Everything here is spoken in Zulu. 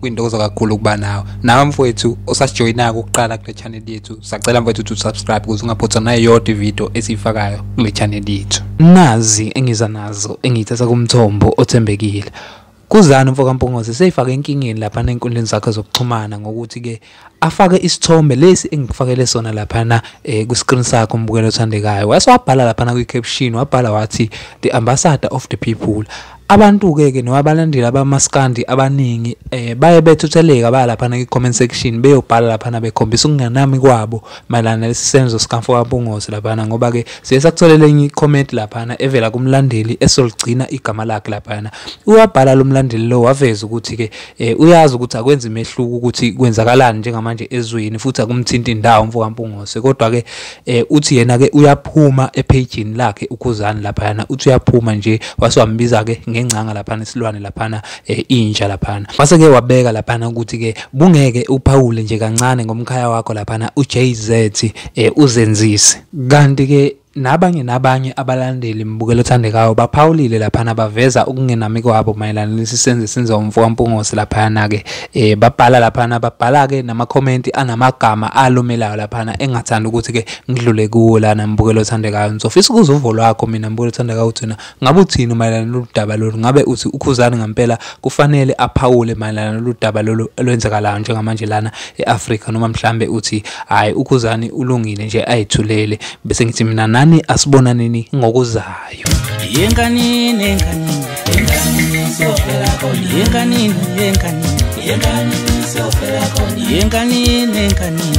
kwintokozo kakhulu ukuba nawe nawe mfowethu osasijoyinako ukuqala kule channel yethu sacela mfowethu ukuthi usubscribe ukuze ungaphothwa nayo yodwa ividiyo esiyifakayo kule channel yethu nazi engiza nazo engiyithatha kumthombo othembekile kuzani mfokampungose seyifake enkingeni lapha nenkundleni zakhe zokuxhumana ngokuthi-ke afake isithombe lesi engikufakele sona laphana eh, kwi-screen sakho umbukeli othandekayo wase wabhala laphana kwi-caption wabhala wathi the ambassador of the people abantu-ke ke noma abalandeli abamaskandi abaningi eh, baye bethutheleka baya laphana kwi-comment section beyobhala laphana bekhombisa ukunganami kwabo mayelana nalesi senzo sikamfo kabungozi laphana ngoba-ke siye sakutholela enye i-comment laphana evela kumlandeli esoligcina igama lakhe laphana uyabhala lo mlandeli lo waveza ukuthi-ke eh uyazi ukuthi akwenzi imehluko ukuthi kwenzakalani njengamanje ezweni futhi akumthinti indawo mfokampungose kodwa ke eh uthi yena ke uyaphuma ephejini lakhe ukhuzani lapha yana uthi uyaphuma nje waswambiza ke ngengcanga lapha nesilwane lapha eh, inja lapha mase ke wabeka lapha ukuthi ke bungeke uphawule nje kancane ngomkhaya wakho lapha uJZ eh uzenzise kanti ke Nabanye nabanye abalandeli mbukelo othandekayo baphawulile laphana baveza ukungenami kwabo mayelana lesi senzo esenziwa umfo kaMpungose laphayana-ke eh babhala laphana babhala-ke namakhomenti anamagama alumelayo laphana engathanda ukuthi-ke ngidlule kuwo lana mbukelo othandekayo ngizofisa ukuza uvo lwakho mina mbukelo othandekayo uthina Ngabe uthini mayelana nolu daba lolu? Ngabe uthi uKhuzani ngampela kufanele aphawule mayelana nolu daba lolu olwenzakalayo njengamanje lana e-Afrika noma mhlambe uthi hayi uKhuzani ulungile nje ayithulele bese ngithi mina nani asibonaneni ngokuzayo. Yenkanini yenkanini yenkanini sofela kona yenkanini yenkanini yenkanini sofela kona yenkanini yenkanini